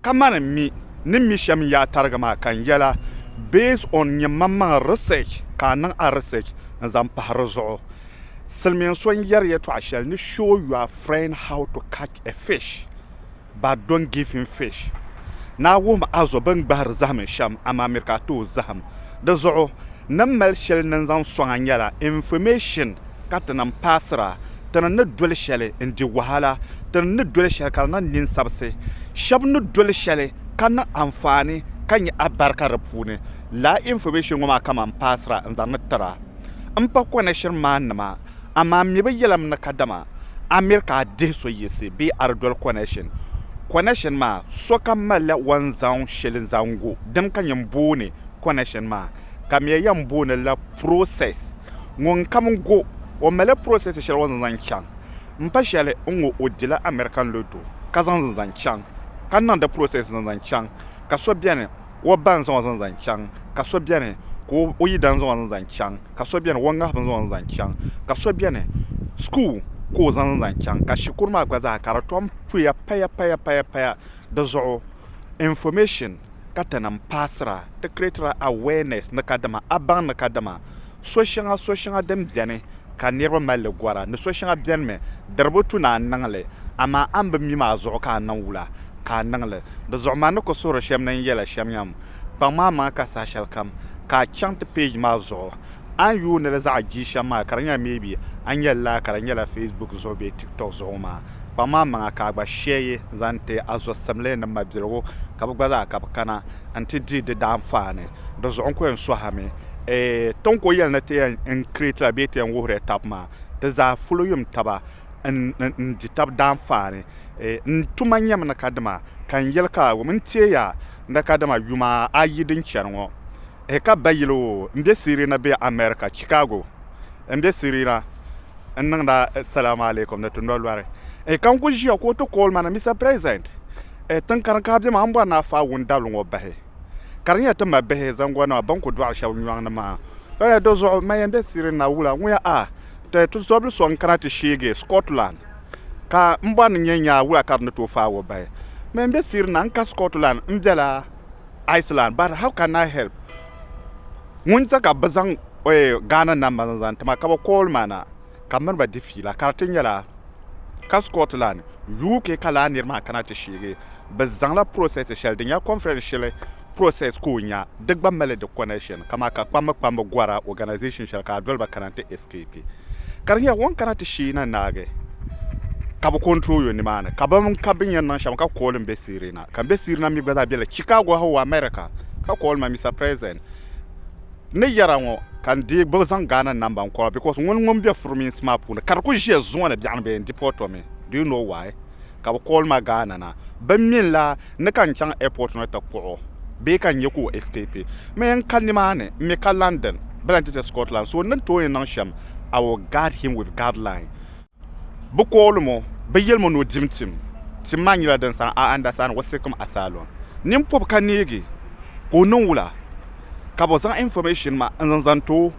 Kamani mi ni mi shɛm n-yaa tariga maa ka n yɛla based on nyɛmmaŋmaŋ research ka a niŋ a research n-zaŋ pahi di zuɣu. Silimiin so n-yɛri yɛtɔɣ shɛli ni show your friend how to catch a fish but don't give him fish. Ni a wuhim a zo bɛ ni gbahiri zahim n shɛm amaa mi ka a ti o zahim. Di zuɣu, ni m mali shɛli ni n zaŋ sɔŋ a nyɛla information. ka ti nam paasira, ti ni ni doli shɛli n-di wahala, ti ni ni doli shɛli ka di niŋ ninsabisi. Shɛb ni doli shɛli ka niŋ anfaani ka nya abarika di puuni. Lala information ŋɔ maa kaman paasira n-zaŋ ni tira m pa connection man nima, amaa m mi bi yɛlim ni kadama a miri ka a dihi so yiɣisi bee a di doli connection. Connection maa, sokam malila o ni zaŋ shɛli zaŋ gu dim ka nyin booni connection maa. ka mɛ yɛn booni la process ŋun kam go o mali process shɛli o ni zaŋ chaŋ n pa shɛli n ŋɔ o dila American lotto ka zaŋ di zaŋ chaŋ ka niŋdi process zaŋ zaŋ chaŋ ka so bɛni o ba n zaŋ o zaŋ zaŋ chaŋ ka so bɛni ka o yidana zaŋ o zaŋ zaŋ chaŋ ka so bɛni o ŋahibu n zaŋ o zaŋ zaŋ chaŋ ka so bɛni school ka o zaŋ zaŋ chaŋ ka shikuru maa gba zaa ka di tom puya paya paya paya paya di zuɣu Information ka ti niŋ paasira, ti creatila awareness ni kadama a baŋ ni kadama so shɛŋa so shɛŋa din beni ka niriba mali li gɔra ni so shɛŋa beni mi diri bi tu ni a niŋ li amaa a ni bi mi maa zuɣu ka a niŋ wula ka a niŋ li di zuɣu man ni ku suhiri shɛm ni n yɛla shɛm yɛm kpaŋ maa maŋa ka saha shɛli kam ka a chaŋ ti page maa zuɣu a ni yuuni li zaɣa jia shɛm maa ka di nyɛla maybe a ni yɛli lala ka di nyɛla facebook zuɣu bee tiktok zuɣu maa. kpaŋ ma maŋa ka a gba shee yi zaŋ ti a zɔsimli ni mabiligu ka bɛ gba zaa ka bɛ kana nti di di daanfaani. Dinzuɣu n ku yɛn sɔhimi ee, ti ni ku yɛli ni ti yɛn creatila bee ti yɛn wuhirila tab maa, ti zaa ful yum taba n di tab daanfaani. Ee, n tuma nyɛmi ni kadama ka n yɛli ka a wum n teei ya ni kadama yuma ayi din chani ŋɔ Hi ka bayili o n be Sirina bee America, Chicago n be Sirina n niŋda Salamu Alaikum ni ti no lɔri. Hi ka n ku ʒiya ka o ti call ma ni Mister President, tiŋkari ka a be maa m bɔri ni a faai wun dabili ŋɔ bahi ka di nyɛ ti mabihi zaŋgɔnnima bɛn ku dɔɣi shɛba nyɔŋ ni maa. Ka ya dizuɣu man yɛn be Sirina wula ŋuya a ti tizɔbili so n kana ti sheegi Scotland ka m bɔri ni nyɛ nyaa wula ka di ni tooi faai o bahi. Man yɛn be Sirina n ka Scotland m bela. Iceland but how can I help ŋun sa ka bɛ zaŋ Ghana namba zaŋ ti ma ka bɛ call ma na ka m mini ba di fiila ka di ti nyɛla ka Scotland UK ka lala niri maa kana ti sheegi bɛ zaŋla process shɛli din nyɛ conference shili process ka o nya di gba mali di connection kaman ka kpambi kpambi gɔra organisation shɛli ka a doli ba kana nti escape ka di nyɛla o ni kana ti sheei na naagi ka bɛ control yo nimaani ka bɛ mini ka bɛ ni yɛn niŋ shɛm ka call m be Sirena. ka m be Sirina mi gba zaa bela Chicago ha o America ka call ma Mister President ni yara ŋɔ ka n dii gbubi zaŋ Ghana number n call because ŋuni ŋun be furminsi maa puuni ka di kuli ʒiya zuŋɔ ni biɛɣuni bee n deport o mi do you know why ka bɛ call ma Ghana na bɛ min la ni ka n chaŋ airport ni ti kpuɣi o bee ka n nya ka o escape mi n ka nimaani m mi ka London bee lan ti che Scotland so n ni tooi niŋ shem I will guard him with guard line. Bɛ koolum o, bɛ yɛlim o ni o dim tim. Tim maa nyɛla din sani Aandasa ni Wasekum Asaalon. Nini pɔbi ka neegi ka o niŋ wula ka bɛ zaŋ information maa n-zaŋ zaŋ ti o.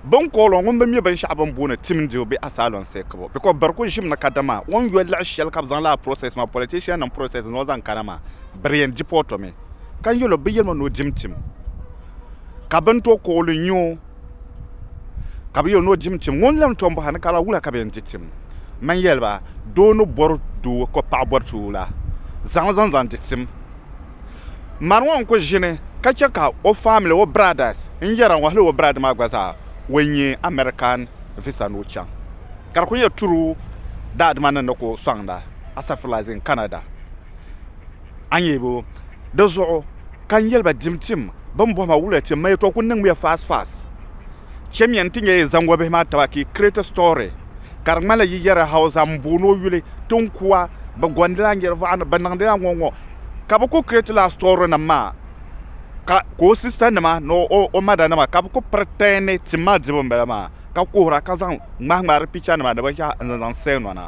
Bɛ ni kool o ŋun bi mi binshɛɣu bɛ ni booni tim dibu bee Asaalon seekibu because biri ku ʒimi ni kadama o ni yoli liɣi shɛli ka bɛ zaŋ lala process maa, politiciannim process n-zaŋ o zaŋ kana maa, biri yɛn deport o mi. Ka n yɛl o bɛ yɛlim o ni o dim tim ka bɛ ni tooi kool o n-nya o. ka bɛ yɛli ni o di tim ŋun lan tom bɔhiri ni ka lala wula ka bɛ yɛn di tim man yɛli ba doo ni bɔri doo ka o paɣa bɔri so la zaŋ li zaŋ zaŋ di tim mani ŋɔ n-kuli ʒini ka che ka o famili o biradas n-yɛra ŋɔ hali o biraad maa gba zaa o yi nya American visa ni o chaŋ ka di kuli nyɛ true daadima ni ni ku sɔŋda asafurlah is in Canada. a nyɛ ba di zuɣu ka n yɛli ba dim tim bɛn bɔhi ma wuliya tim ma yɛtɔɣ kul niŋmiya fast fast chɛmiya nti nyɛ yi zaŋ wabihi maa taba ka yi create a story ka di ŋmanila yi yɛri Hausa m booni o yuli tinkua bɛ gɔndila n yɛri vɔɣani bɛ niŋdila ŋɔ ŋɔ ka bɛ kul create la story nim maa ka o sister nima ni o mada nima ka bɛ kul pretend ni tim maa dibu m bala maa ka kuhira ka zaŋ ŋmahi ŋmahi di picture nima ni binshɛɣu n zaŋ zaŋ sell nɔna.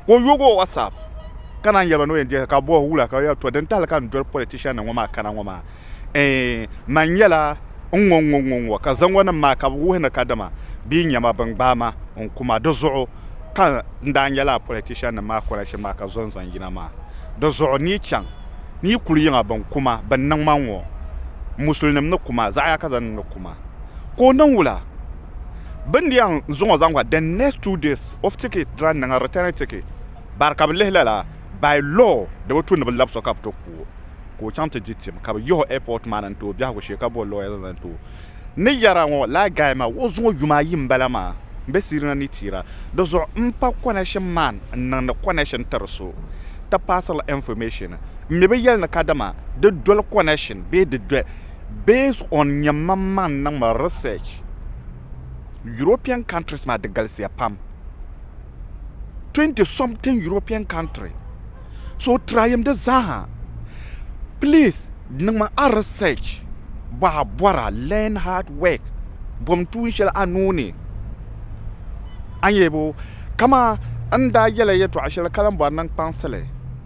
ka o yogi o WhatsApp ka naan yɛli ba ni o yɛn dihi ka bɔhi wula ka yɛli to din tahili ka n doli politician nim ŋɔ maa kana ŋɔ maa eh man nyɛla n ŋɔ ŋɔ ŋɔ ŋɔ ka zaŋɔ nim maa ka bi wuhi ni kadama bee nyɛma bin gbaai ma n kuma di zuɣu ka n daa nyɛla a politician nim maa connection maa ka zo n zaŋ yina maa di zuɣu ni yi chaŋ ni yi kuli yiŋa bin kuma bin niŋ ma ŋɔ musulinim ni kuma zaɣa yaka zaŋ niŋ ni kuma ka o niŋ wula Bɛ ni yɛn zuŋ o zaŋ the next two days of ticket dira niŋ a returning ticket bari ka bɛ lihi lala by law di bi tu ni bɛ labi so ka bɛ ti ku o ka o chaŋ ti di tim ka bɛ yihi o airport maa ni n-ti o biɛhigu shee ka bo lawyer zaŋ zaŋ ti o ni yɛra ŋɔ lala guy maa o zuŋɔ yuma ayi m-bala maa m-be siri na ni tira di zuɣu m-pa connection man n-niŋdi connection tiri so ti paasirila information m-mi bi yɛli ni kadama di doli connection bee di doli Based on nyɛmmaŋmaŋ niŋ ma research, European countries maa di galisiya pam. Twenty something European country. So tryim di zaaha. Please niŋ ma a research bɔ a bɔra learn hard work bom tuun shɛli a nuu ni. A ni yɛli bo, kaman n daa yɛla yɛtɔɣa shɛli ka lan bɔri ni n kpaŋsili.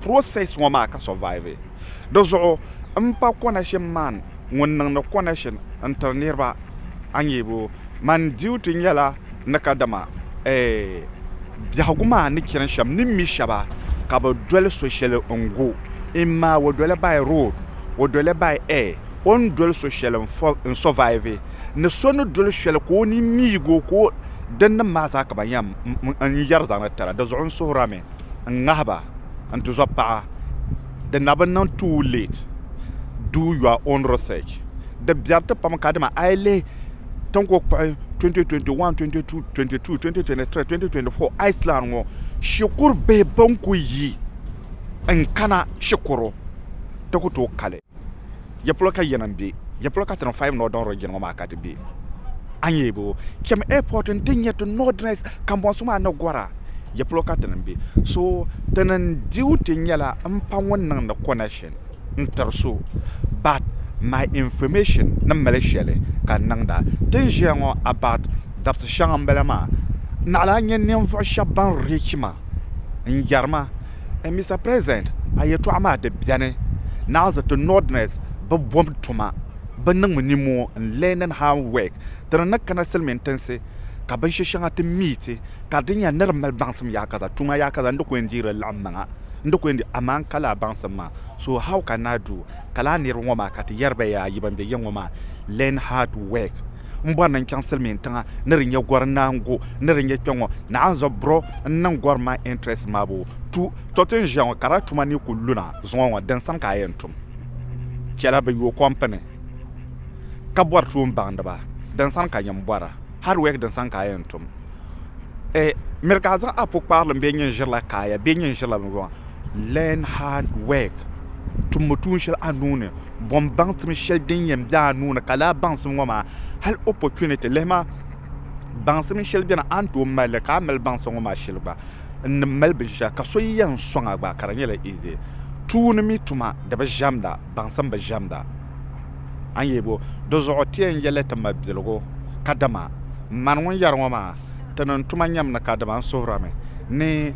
process ŋɔ maa ka survive di zuɣu m pa connection man ŋun niŋdi connection n tiri niriba a nya bo man duty nyɛla ni kadama eh biɛhigu maa ni chani shɛm ni mi shɛba ka bɛ doli so shɛli n go in ma o doli by road o doli by air o ni doli so shɛli n survive ni so ni doli shɛli ka o ni miig o ka o dinnim maa zaa ka ban yɛn yɛri zaŋdi tira di zuɣu n suhirami n-ŋahi ba n tuzɔb paɣa di na bi niŋ too late do your own research di biɛri ti pam kadama a yi lihi tin ku kpuɣi 2021, 22, 22, 2023, 2024 Iceland ŋɔ shikuru bihi bɛn ku yi n kana shikuru ti ku tooi kali. Ya polo ka yinim be? Ya polo ka Turnpike Northern Region ŋɔ maa ka ti be? A nyɛ bɛ o cham airport n-ti nyɛ ti Northerners kambɔnsi maa ni gɔra? Ya polo ka tinim be? So ti niŋ duty nyɛla m-pa ŋun niŋdi connection n-tiri so but my information ni mali shɛli ka n niŋda. Ti ni ʒiya ŋɔ about dabisi shɛŋa m-bala maa. Naɣila a nya ninvuɣ shɛb ban reach ma n-yɛri ma N Mister President, a yɛltɔɣa maa di bɛni naanzi ti Northerners bi bom tuma, bi niŋ mi ninmoo n learning hand work, ti ni ni kana silimiin tinsi ka binshi shɛŋa ti miiti ka di nya ni di mali baŋsim yaakaza tuma yaakaza n di ku yɛn deeri li laɣim maŋa n di ku yɛn deeri amaa n ka laa baŋsim maa so how can I do ka laa niriba ŋɔ maa ka ti yɛri ba yaa yi ban bɛ yiŋ ŋɔ maa learn hard work n bɔri ni n chaŋ silimiin tiŋa ni di nyɛ gɔri naangu ni di nyɛ kpɛŋɔ naanzu buro n niŋ gɔri maa interest maabu tu to ti n ʒiya ŋɔ ka di tuma ni ku luna zuŋɔ ŋɔ din sani ka a yɛn tum chɛla bi yo kɔmpini ka bɔri tuun baŋdi ba din sani ka nyɛ n bɔra hard work din sani ka a yɛn tum miri ka a zaŋ a pukpaarilim bee nyini ʒirila kaaya bee nyini ʒirila binvuɣu Learn hard work, Tummi tuun shɛli a nuu ni, Bɔm baŋsim shɛli din yɛn be a nuu ni, ka laa baŋsim ŋɔ maa hali opportunity lihi maa, baŋsim shɛli beni a ni tooi mali li ka a mali baŋsim ŋɔ maa shɛli gba n ni mali binshɛɣu ka so yi yɛn sɔŋ a gba ka di nyɛla easy. Tuuni mi tuma di bi ʒɛmda, baŋsim bi ʒɛmda. A ni yɛli bo, di zuɣu ti yɛn yɛli ti ma biligu kadama mani ŋun yɛri ŋɔ maa ti niŋ tuma nyam ni kadama n suhirimi ni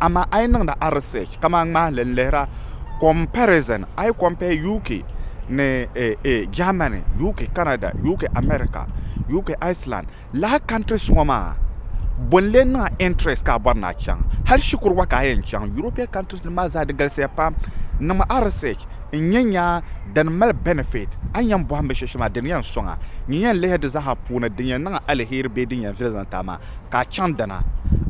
Amaa a yi niŋdi a research kamani ŋmahili n-lihira comparison, a yi compare UK ni Germany, UK Canada, UK America, UK Iceland, lala countries ŋɔ maa bɔ n-lee niŋ a interest ka a bɔri ni a chaŋ? Hali shikuru gba ka a yɛn chaŋ European countries nim maa zaa di galisiya pam. Niŋmi a research n-nya nya din mali benefit a ni yɛn bɔhim binshɛli shɛli maa di ni yɛn sɔŋ a. Nyin yɛn lihiri di zaa ha puuni din yɛn niŋ a aliheri bee din yɛn viɛli zaŋ ti a maa. ka a chaŋ dina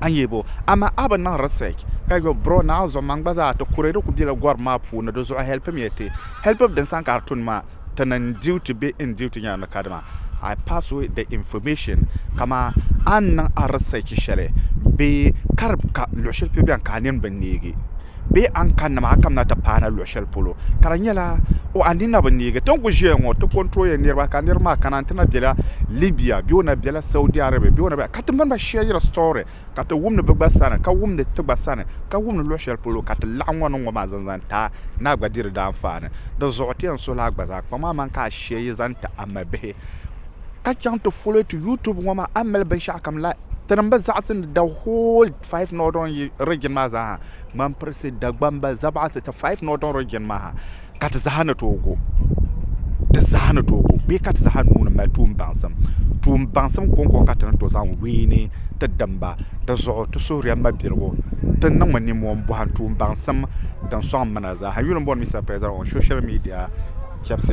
a ni yɛli ba o. Amaa a bi niŋ research ka yɔli bro naɣi zuɣu man gba zaa ti kuri di kuli bela gɔrim maa puuni di zuɣu helpimiya ti help din sani ka di tuni maa ti niŋ n duty bee n duty nyɛla ni kadima I pass away the information kaman a ni niŋ a research shɛli bee ka di ka luɣi shɛli polo beni ka a nini bi neegi. bee a ni kani nima a kamina ti paana luɣ shɛli polo ka di nyɛla o a nina bi neegi ti ni ku ʒiya ŋɔ ti kɔnturoya niriba ka niriba maa kana n-ti na bela Libya bee o na bela Saudi Arabia bee o na bela ka ti mini ba shɛɛri story ka ti wumdi bɛ gba sani ka wumdi ti gba sani ka wumdi luɣ shɛli polo ka ti laɣim ŋɔ niŋ ŋɔ maa zaŋ zaŋ ti a ni a gba diri di anfaani di zuɣu ti yɛn suhila a gba zaa kpaŋ a maŋ ka a shɛɛri zaŋ ti a mabihi ka chaŋ ti follow ti YouTube ŋɔ maa a ni mali binshɛɣukam la tinim bi zaɣisi ni the whole 5 Northern Region maa zaa ha ŋmani pirisi, Dagbamba, Zabaɣisi ti 5 Northern Region maa ha ka ti zaa ni tooi go di zaa ni tooi go bee ka ti zaa nuu ni mali tuun baŋsim. Tuun baŋsim kɔŋko ka ti ni tooi zaŋ wiini ti dimba. Di zuɣu ti suhiriya mabiligu ti niŋmi ninmɔhi m-bɔhim tuun baŋsim din sɔŋ m mi na zaa ha. Yuli m-bɔri Mister President on social media chɛbisi.